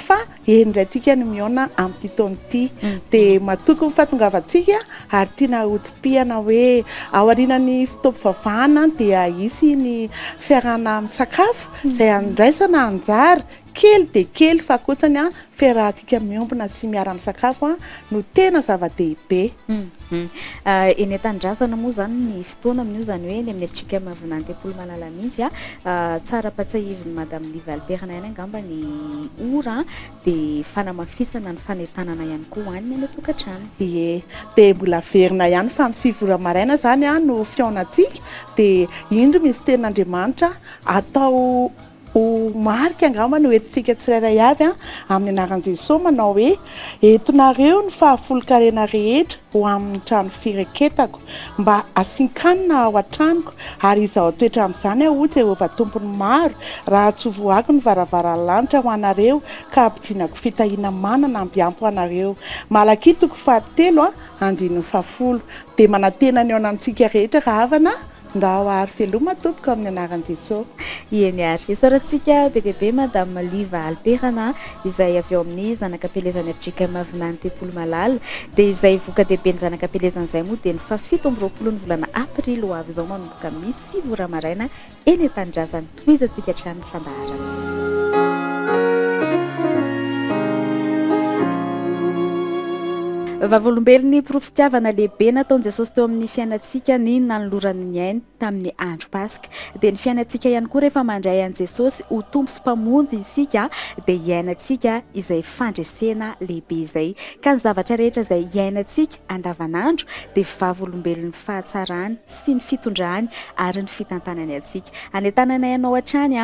fa Eny indray tsika no mihaona amin'ity taona ity dia matoky ny fahatongavantsika ary tiana hotsipihana hoe ao aorianan'ny fotoam-pivavahana dia hisy ny fiarahana misakafo izay handraisana anjara kely dia kely fa kotsany an fiarahantsika miombona sy miara misakafo an no tena zava-dehibe. Eny an-tanindrazana moa izany ny taona amin'io izany hoe eny amin'ny atsika Mavonà Antepolo Malala mihitsy a, tsara ampatsahivin'i Madame Liva Alperne ihany angamba ny ora dia fanamafisana ny fanentanana ihany koa ho an'ny any an-tokantrano. Ie, dia mbola averina ihany fa amin'ny sivy ora maraina izany no fihaonantsika dia indro Minisiteran'Andriamanitra atao. Ho marika angamba ny ho entintsika tsirairay avy amin'ny anaran'i Jesosy manao hoe, Entinareo ny fahafolon-karena rehetra ho amin'ny trano fireketako, mba hasinkanina ao an-tranoko, ary izaho toetra amin'izany ahoa Jehovah Tompon'ny maro, raha tsy voahako ny varavaran'ny lanitra ho anareo ka hampidinako fitahiana manana mbiampy ho anareo. Malakia toko fahatelo, andininy fahafolo. Dia manantena ny eo anantsika rehetra rahavana Ndao ary veloma tompoko amin'ny anaran'i Jesoa. Ieny ary. Isaorantsika be dia be Madame Liva Alperana izay avy ao amin'ny zanakam-pielezan'ny fjkm Vinany Tempoly Malala. Dia izay voka-dehiben'ny zanakam-pielezana izay moa dia ny fahafito amby roapolon'ny volana Aprily ho avy izao manomboka amin'ny sivy ora maraina eny an-tanindrazana. Tohizantsika hatrany ny fandaharana. Vavolombelon'ny porofon-tiavana lehibe nataon'i Jesosy teo amin'ny fiainantsika ny nanolorany ny ainy tamin'ny andro Paska. Dia ny fiainantsika ihany koa rehefa mandray an'i Jesosy ho Tompo sy Mpamonjy isika dia iainantsika izay fandresena lehibe izay. Ka ny zavatra rehetra izay iainantsika andavanandro dia vavolombelon'ny fahatsarany sy ny fitondrany ary ny fitantanany antsika. Anentananay anao hatrany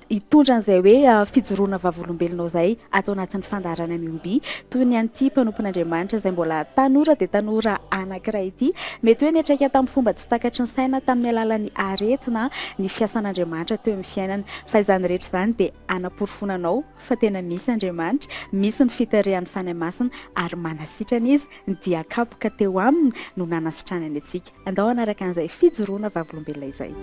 hitondra an'izay hoe fijoroana vavolombelonao izay ato anatin'ny fandaharana Miobi, toy ny an'ity mpanompon'Andriamanitra izay mbola tanora dia tanora anankiray ity. Mety hoe niantraika tamin'ny fomba tsy takatry ny saina tamin'ny alalan'ny aretina ny fiasan'Andriamanitra teo amin'ny fiainany. Fa izany rehetra izany dia hanaporofoana anao. fa tena misy Andriamanitra, misy ny fitarihan'ny Fanahy Masina ary manasitrana Izy, ny dia kapoka teo Aminy no nanasitranany antsika. Andao hanaraka an'izay fijoroana vavolombelona izay.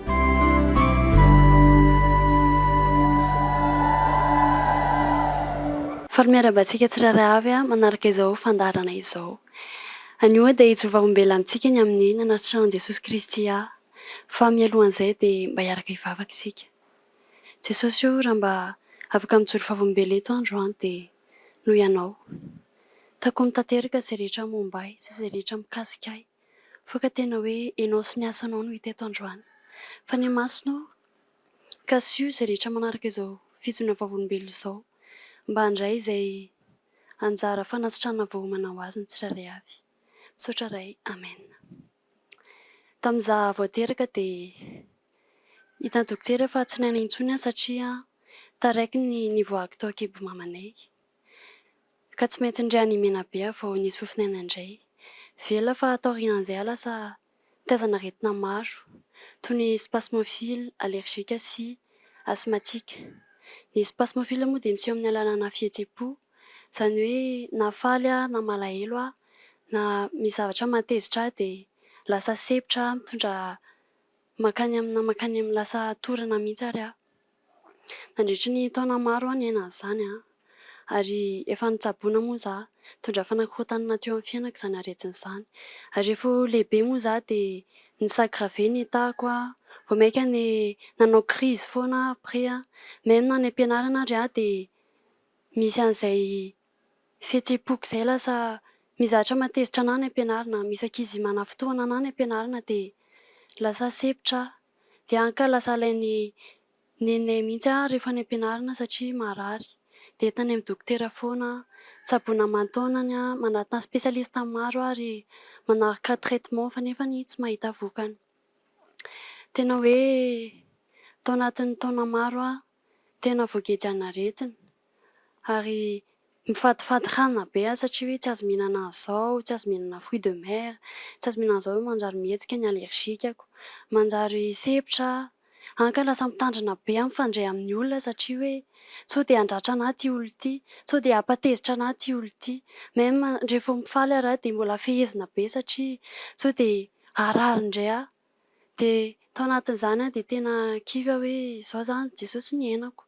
Faly miarahaba antsika tsirairay avy manaraka izao fandaharana izao. Anio dia hijoro vavolombelona amintsika ny amin'ny nanasitranan'i Jesosy Kristy ahy. Fa mialohan'izay dia mba hiaraka hivavaka isika. Jesosy o, raha mba afaka mijoro vavolombelona eto aho androany dia noho Ianao. Takomy tanteraka izay rehetra momba ahy sy izay rehetra mikasika ahy, fa ka tena hoe Ianao sy ny Asanao no hita eto androany. Fanahy Masina o, kasiho izay rehetra manaraka izao fijoroana vavolombelona izao mba handray izay anjara fanasitranana voaomana ho azy ny tsirairay avy. Misaotra Ray. Amena. Tamin'ny izaho vao teraka dia hitan'ny dokotera fa tsy naina intsony aho satria taraiky ny nivoahako tao an-kibo mamanay. Ka tsy maintsy indray any Menabe aho vao nisy fofon'aina indray. Velona fa taorian'izay aho lasa nitazana aretina maro toy ny spasmophiles allergiques sy asthmatiques. Ny spasmophiles moa dia miseho amin'ny alalanà fihetseham-po Izany hoe na faly aho na malahelo aho, na misy zavatra mahatezitra ahy dia lasa sempotra aho, mitondra mankany amina mankany amina, lasa torina mihitsy ary aho. Nandritry ny taona maro aho niaina an'izany ary efa notsaboina moa izaho. Nitondra fanakorontanana teo amin'ny fiainako izany aretina izany. Ary rehefa lehibe moa izaho dia ni-s'aggraver ny tahako, vao mainka nanao crise foana aho après. Même na any am-pianarana ary aho dia. misy an'izay fihetsem-poko izay lasa mizatra matezitra anah any am-pianarana, misy ankizy manafitohana anah any am-pianarana dia lasa sepotra aho. Dia any ka lasa alain'ny neninay mihitsy aho rehefa any am-pianarana satria marary. Dia entiny amin'ny dokotera foana aho. Tsaboina aman-taonany aho, manatona spécialiste maro aho ary manaraka traitement fa nefa tsy mahita vokany. Tena hoe tao anatin'ny taona maro aho tena voagejan'ny aretina ary mifadifady hanina be aho satria hoe tsy azo mihinana an'izao, tsy azo mihinana fruits de mer, tsy azo mihinana an'izao, manjary mihetsika ny allergique-ko, manjary sempotra aho, hany ka lasa mitandrina be aho mifandray amin'ny olona satria hoe sao dia handratra an'ahy ity olona ity, sao dia hampatezitra an'ahy ity olona ity, même rehefa mifaly ary aho dia mbola fehezina be satria sao dia harary indray aho. Dia tao anatin'izany dia tena kivy aho hoe izao izany Jesosy niainako.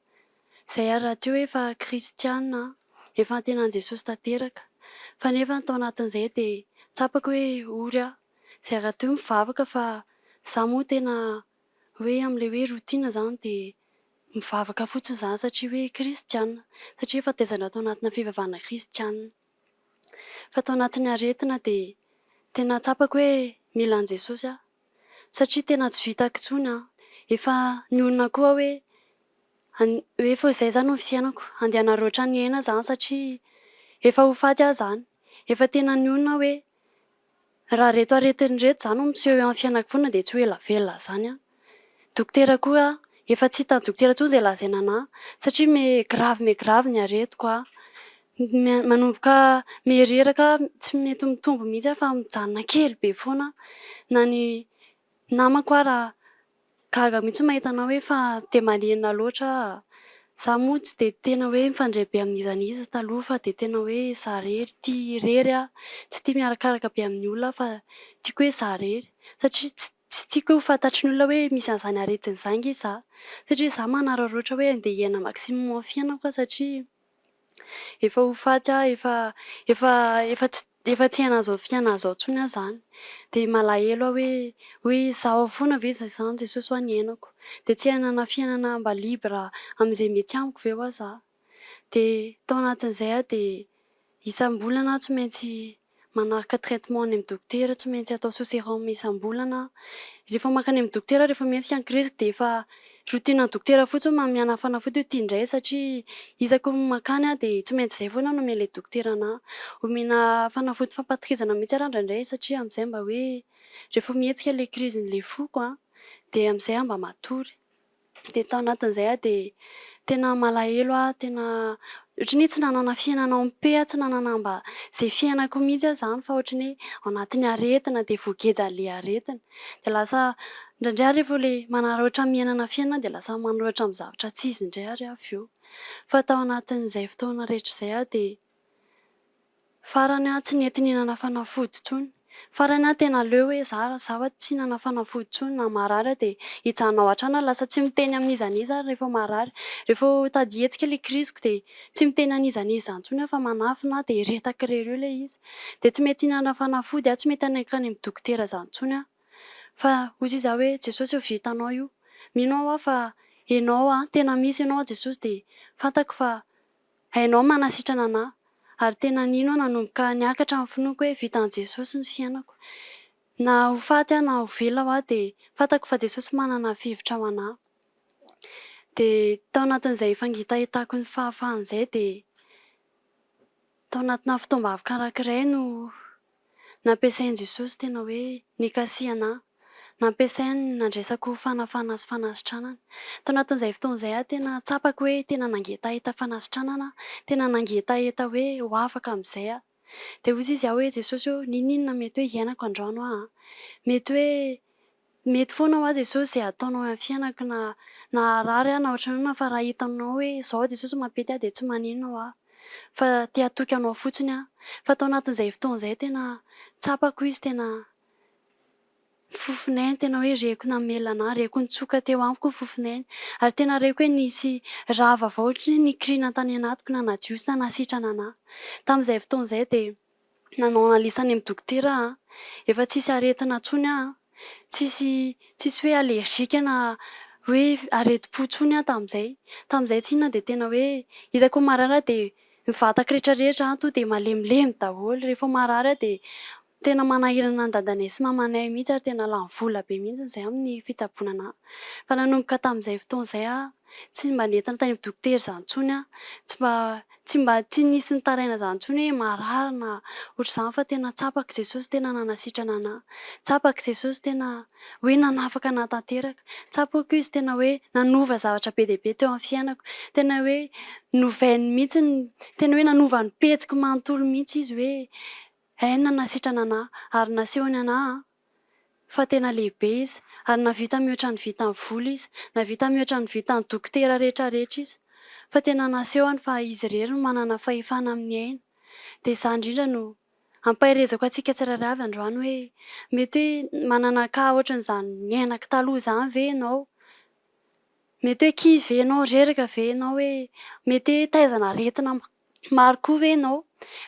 Izay ary rahateo hoe efa kristiana aho, efa antena an'i Jesosy tanteraka. Fa nefa tao anatin'izay dia tsapako hoe ory aho. Izay rahateo mivavaka fa izaho moa tena hoe amin'ilay hoe routine izany dia mivavaka fotsiny izany satria hoe kristiana, satria efa tezana tao anatina fivavahana kristiana. fa tao anatin'ny aretina dia tena tsapako hoe mila an'i Jesosy aho satria tena tsy vitako intsony an! efa nionona koa aho hoe an, hoe efa izay izany no fiainako, andeha hanaroatra ny aina za satria efa ho faty aho izany, efa tena nionona aho hoe Raha reto aretiny reto za no miseho eo amin'ny fiainako foana dia tsy ho ela velona zany aho. Dokotera koa aho, efa tsy hitan'ny dokotera intsony izay lazaina anah satria me grave me grave ny aretiko aho. Manomboka me reraka aho, tsy mety mitombo mihitsy aho fa mijanona kely be foana aho. Na ny namako ara. Gaga mihitsy mahita anao hoe fa dia malina loatra ah! Za moa tsy dia tena hoe mifandray be amin'iza n'iza taloha fa dia tena hoe za rery, tia irery ah! Tsy tia miarakaraka be amin'ny olona aho fa tiako hoe za rery satria tsy tsy tiako ho fantatry ny olona hoe misy an'izany aretina izany nge za satria za manararaotra hoe andeha hiaina maximum fiainako aho satria. Efa ho faty aho efa efa efa tsy efa tsy hianazao fiana zao tsony aho zany de malahelo aho hoe hoe izaho fona ve zay zany Jesosy oa ny hiainako de tsy hianana fiainana mba libre amizay mety amiko ve oa za de tao anatin'izay aho de isambolana aho tsy maintsy manaraka traitement any amin'ny dokotera tsy maintsy atao sous serum isam-bolana an! rehefa mankany amin'ny dokotera rehefa mihetsika ny kiriziko dia efa routine ny dokotera fotsiny hoe mamianà fanafody hoe ity indray satria isaky ny mankany aho dia tsy maintsy izay foana no omen'ilay dokotera anà omena fanafody fampatohizana mihitsy ary indraindray satria amin'izay mba hoe rehefa mihetsika ilay krizin'ilay foko an! dia amin'izay aho mba matory. Dia tao anatin'izay aho dia tena malahelo aho, tena ohatran'ny hoe tsy nanana fiainana en paix aho, tsy nanana mba izay fiainako mihitsy aho izany fa ohatran'ny hoe ao anatin'ny aretina dia voagejan'ilay aretina. Dia lasa indraindray aho rehefa ilay manararaotra miainana fiainana dia lasa manoratra amin'ny zavatra tsy izy indray ary aho avy eo. Fa tao anatin'izay fotoana rehetra izay aho dia Farany aho tsy nety nihinana fanafody intsony. Farany aho tena leo hoe za raha zaho tsy hihinana fanafody intsony na marary aho dia hijanona ao an-trano aho lasa tsy miteny amin'iza n'iza ary rehefa marary. Rehefa tady hihetsika ilay kriziko dia tsy miteny an'iza n'iza intsony aho fa manafina aho dia retaky irery eo ilay izy. Dia tsy mety hihinana fanafody aho, tsy mety hanakany amin'ny dokotera za intsony aho. Fa hoy iza hoe Jesosy efa vitanao io. Mino aho aho fa enao an, tena misy enao an Jesosy dia fantako fa. Hainao ny manasitrana anà. Ary tena nino aho nanomboka niakatra ny finoako hoe vitan'i Jesosy ny fiainako. Na ho faty aho na ho velona aho dia fantako fa Jesosy manana fihevitra ho anà. Dia tao anatin'izay fangitahitako ny fahafahana izay dia tao anatina fotoam-bavy karakirainy no. Nampiasain'i Jesosy tena hoe nikasihana ahy. Nampiasainy nandresako fanafahana sy fanasitranana. Tao anatin'izay fotoana izay aho tena tsapako hoe tena nangetaheta fanasitranana aho, tena nangetaheta hoe ho afaka amin'izay aho. Dia hoy izy ahy hoe, Jesosy ô, ninoninona mety hoe hiainako androano aho an? Mety hoe Mety foana hoa Jesosy izay ataonao eo amin'ny fiainako na naharary aho na ohatran'ny inona fa raha hitanao hoe izao aho Jesosy mampety aho dia tsy manino hoa fa te hatoky anao fotsiny aho fa tao anatin'izay fotoana izay tena tsapako izy tena fofon'ainy tena hoe reko namelona anah reko nitsoka teo amiko ny fofon'ainy ary tena reko hoe nisy raha vaovao ohatran'ny hoe nikirina tany anatiko nanadio sy nanasitrana anah tamin'izay fotoana izay dia Nanao analyse any amin'ny dokotera aho an! Efa tsisy aretina intsony aho an! Tsisy tsisy hoe allergique na hoe aretim-po intsony aho tamin'izay. Tamin'izay tsy inona dia tena hoe hitako ny marary aho dia ny vatako rehetrarehetra an! Tonga dia malemilemy daholo. Rehefa marary aho dia tena manahirana an'i dadanay sy mamanay mihitsy ary tena lany vola be mihitsy izay amin'ny fitsaboana an'ahy. Fa nanomboka tamin'izay fotoana izay aho Tsy mba nentina tany amin'ny dokotera izany intsony aho. Tsy mba tsy mba tsy nisy nitaraina izany intsony hoe marary na ohatr'izany fa tena tsapako i Jesosy tena nanasitrana anà. Tsapako i Jesosy tena hoe nanafaka anà tanteraka. Tsapako izy tena hoe nanova zavatra be dia be teo amin'ny fiainako. Tena hoe novainy mihitsy ny, tena hoe nanova ny pejiko manontolo mihitsy izy hoe hay nanasitrana anà ary nasehony anà an. fa tena lehibe izy, ary nahavita mihoatra ny vitan'ny vola izy, nahavita mihoatra ny vitan'ny dokotera rehetra rehetra izy, fa tena nasehony fa izy irery no manana fahefana amin'ny aina, dia izaho indrindra no ampaherezako antsika tsirairay avy androany hoe mety hoe manana cas ohatran'izany niainako taloha izany ve ianao? mety hoe kivy ve ianao, reraka ve ianao hoe mety hoe taiza an'aretina Maro koa ve ianao?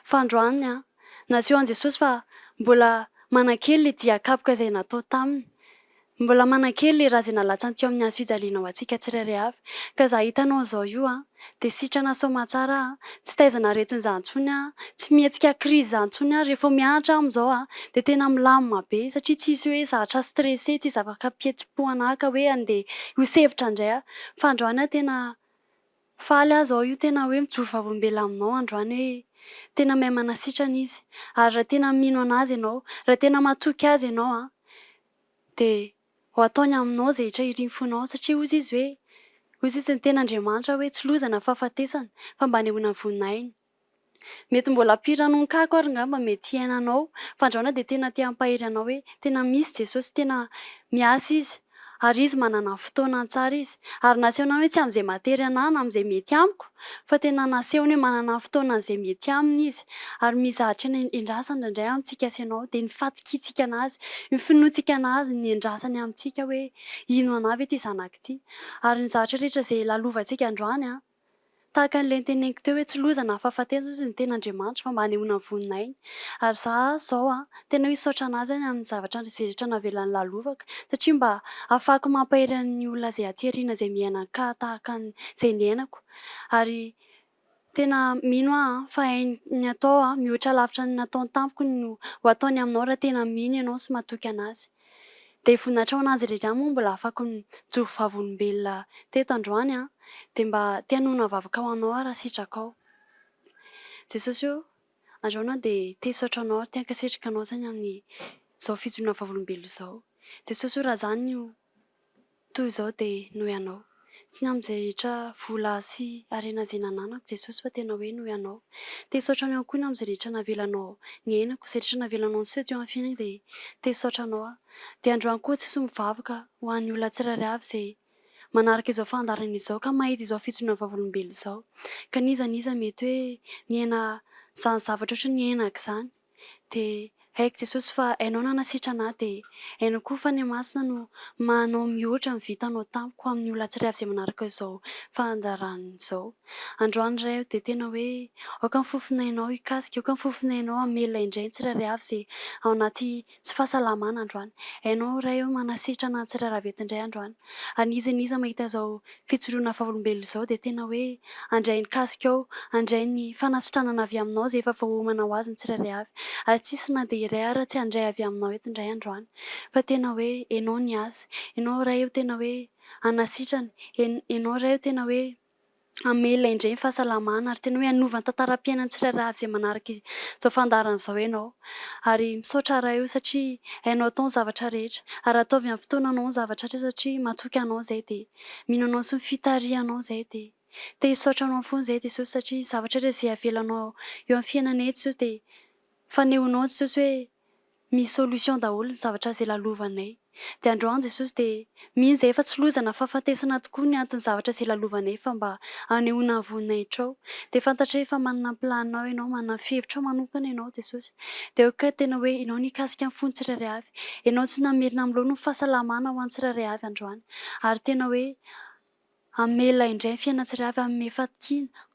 Fandroany an! Nasehon'i Jesosy fa mbola manan-kery ilay dia kapoka izay natao taminy. Mbola manan-kery ilay ra izay nalatsany teo amin'ny hazo fijaliana ho antsika tsirairay avy. Ka za hitanao an'izao io an! Dia sitrana sao mahatsara an! Tsy taizana aretina za intsony an! Tsy mihetsika crise za intsony an! Rehefa mianatra aho amin'izao an! Dia tena milamina be! Satria tsy hisy hoe zatra stressé, tsy hisy zava-kapihetsi-po hanahaka hoe andeha hihosevotra indray aho. Fandroany an! Tena. Faly aza aho io tena hoe mijoro vavolombelona aminao androany hoe tena mahay manasitrana izy ary raha tena mino anazy ianao raha tena matoky azy ianao an dia ho ataony aminao izay hitrahiriny fonao satria hozy izy hoe hozy izy ny tena Andriamanitra hoe tsy loza na fahafatesana fa mba anehoana voninahiny Mety mbola mpiranonkako ary ngamba mety hiaina anao. Fandraona dia tena te hampahery anao hoe tena misy Jesosy, tena miasa Izy, ary Izy manana fotoana tsara Izy. Ary nasehony ihany hoe tsy amin'izay matery anah na amin'izay mety amiko, fa tena nasehony hoe manana fotoana an'izay mety aminy Izy. Ary mizahatra ny endrasany indraindray amintsika sy ianao, dia ny fatokiantsika an'Azy, ny finoantsika an'Azy, ny endrasany amintsika hoe hino anah ve ity zanako ity. Ary ny zavatra rehetra izay lalovantsika androany, Tahaka an'ilay noteneniko teo hoe tsy loza na fahafatesana hozy ny tena Andriamanitra fa mba hanehoana ny voninahiny. Ary za zao an, tena hisaotra anazy any amin'ny zavatra andry izay rehetra navelany lalovako satria mba hahafahako mampahery an'ny olona izay aty aoriana izay miaina an-kaha tahaka ny izay niainako. Ary tena mino aho an, fa hainy ny atao an, mihoatra lavitra ny nataony tamiko ny ho ataony aminao raha tena mino ianao sy matoky anazy. Dia voninahitra ho an'Azy rehetra ihany moa mbola afako nijoro vavolombelona teto androany an! Dia mba te hanonona vavaka ho Anao aho raha sitraka ao. Jesosy o! Androany aho dia te hisaotra Anao ary te hankasitraka Anao izany amin'izao fijoroana vavolombelona izao. Jesosy o! Raha izany o! Toy izao dia noho ianao. Tsy ny amin'ny izay rehetra vola sy harena izay nananako Jesosy fa tena hoe noho ianao. Te hisaotra anao ihany koa ny amin'izay rehetra navelanao ny ainako, izay rehetra navelanao niseho teo amin'ny fiainako dia te hisaotra anao aho. Dia androany koa Jesosy mivavaka ho an'ny olona tsirairay avy izay manaraka izao fandaharana izao ka mahita izao fijoroana vavolombelona izao. Ka n'iza n'iza mety hoe niaina izany zavatra ohatry ny niainako izany. Dia haiko Jesosy fa Hainao nanasitrana ahy Dia hainao koa fa Ny Masina no mahanao mihoatra ny vitanao tamiko Amin'ny olona tsirairay izay manaraka izao fandaharana izao Androany Ray o Dia tena hoe aoka ny fofon'Ainao hikasika Aoka ny fofon'Ainao hamelona indray ny tsirairay avy izay ao anaty Tsy fahasalamana androany. Hainao Ray oh manasitrana an'i Tsirara Vety indray androany. Ary n'iza n'iza mahita izao fijoroana vavolombelona izao dia tena hoe handray ny kasikao, handray ny fanasitranana avy Aminao izay efa voaomana ho azy ny tsirairay avy. Ary tsy hisy na dia iray ara tsy handray avy Aminao eto indray androany. Fa tena hoe Enao ny asa. Enao Ray oh tena hoe hanasitrana. En, Enao Ray oh tena hoe. hamela indray ny fahasalamana ary tena hoe hanova ny tantaram-piainan'ny tsirairay avy izay manaraka izao fandaharana izao ianao. Ary misaotra Ray o satria Hainao atao ny zavatra rehetra. Ary ataovy amin'ny fotoananao ny zavatra rehetra satria matoky Anao izahay dia mino Anao sy ny fitarihanao izahay dia te hisaotra Anao foana izahay Jesosy satria ny zavatra rehetra izay avelanao eo amin'ny fiainanay Jesosy dia fanehoanao Jesosy hoe Misy solution daholo ny zavatra izay lalovanay. Dia androany Jesosy dia mino izay efa tsy loza na fahafatesana tokoa ny anton'ny zavatra izay lalovanay fa mba hanehoana ny voninahitrao. Dia fantatray efa manana ny planinao ianao, manana ny fihevitrao manokana ianao Jesosy. Dia ok ka tena hoe ianao nikasika ny fon'ny tsirairay avy. Ianao tsy namerina amin'ny laoniny fahasalamana ho an'ny tsirairay avy androany. Ary tena hoe. Amela indray ny fiainana tsirairay avy amin'ny fatokiana.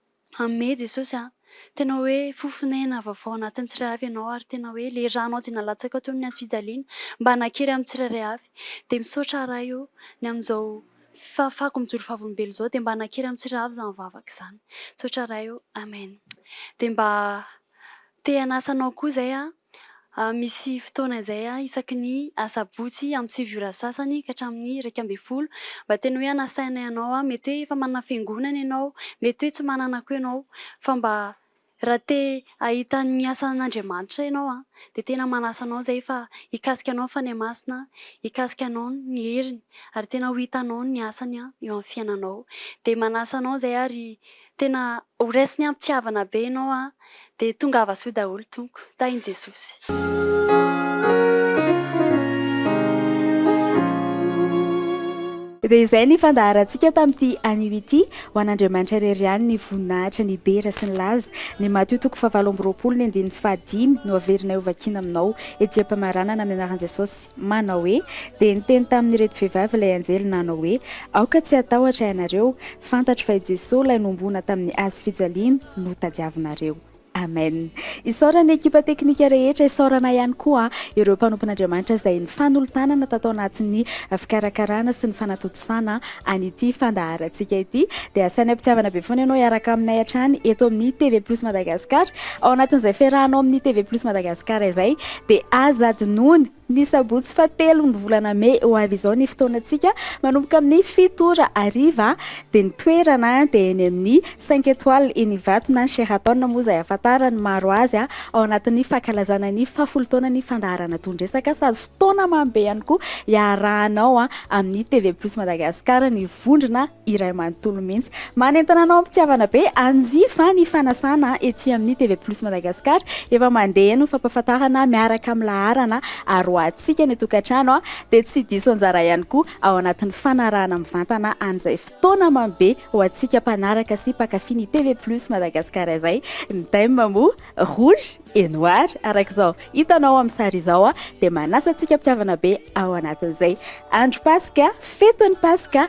Amea Jesosy an. Tena hoe fo fonenana vaovao anatin'ny tsirairay avy ianao ary tena hoe ilay ranao izay nalatsaka toy ny antso fijaliana mba nakery amin'ny tsirairay avy. Dia misaotra Ray o, ny amin'izao fahafahako mijoro vavolombelona izao dia mba nakery amin'ny tsirairay avy izany vavaka izany. Misaotra Ray o. Amen. Dia mba te hanasa anao koa izay aho. Misy fotoana izay isaky ny asabotsy amin'ny sivy ora sasany ka hatramin'ny iraika ambin'ny folo mba tena hoe hanasainay anao, mety hoe efa manana fiangonana ianao, mety hoe tsy manana koa ianao fa mba raha te hahita ny asan'Andriamanitra ianao dia tena manasa anao izay fa hikasika anao ny Fanahy Masina, hikasika anao ny heriny ary tena ho hitanao ny asany eo amin'ny fiainanao. Dia manasa anao izay ary Tena ho resiny ampitivana be enao a! Dia tongava soa daholo Tompo! Tahin'i Jesosy! Dia izay ny fandaharantsika tamin'ity anio ity. Ho an'Andriamanitra irery ihany ny voninahitra, ny dera sy ny laza. Ny Matio toko fahavalo amby roapolo ny andininy fahadimy no averinay ho vakiana aminao. Ejeham-pamaranana ny anaran'i Jesosy. Manao hoe, Dia niteny tamin'ireto vehivavy ilay anjely nanao hoe, Aoka tsy hatahotra ianareo, Fantatro fa i Jesoa ilay nombona tamin'ny Hazo fijaliana no tadiavinareo. Amen. Isaorana ny ekipa teknika rehetra, isaorana ihany koa ireo mpanompon'Andriamanitra izay nifanolo-tanana tato anatin'ny fikarakarana sy ny fanatontosana an'ity fandaharantsika ity. Dia asainy am-pitiavana be foana ianao hiaraka aminay hatrany eto amin'ny TV Plus Madagascar. Ao anatin'izay fiarahanao amin'ny TV Plus Madagascar izay dia aza adinoina Ny sabotsy faha telo ny volana mey ho avy izao ny fotoanantsika, manomboka amin'ny fito ora hariva, dia ny toerana dia eny amin'ny cinq etoiles eny Ivatona, Sheraton moa izay ahafantaran'ny maro azy, ao anatin'ny fankalazana ny faha folo taonan'ny fandaharana Dohan-dresaka sady fotoana mamy be ihany koa iarahanao amin'ny TV Plus Madagascar ny vondrona. iray manontolo mihitsy. Manentana anao am-pitiavana be anjy fa ny fanasana ety amin'ny TV Plus Madagascar efa mandeha eny ny fampahafantarana miaraka amin'ny laharana aroahantsika ny tokantrano dia tsy diso anjara ihany koa ao anatin'ny fanarahana mivantana an'izay fotoana mamy be ho antsika mpanaraka sy mpankafy ny TV Plus Madagascar izay ny thème moa rouge et noir araka izao hitanao amin'ny sary izao dia manasa antsika am-pitiavana be ao anatin'izay andro Paska fety ny Paska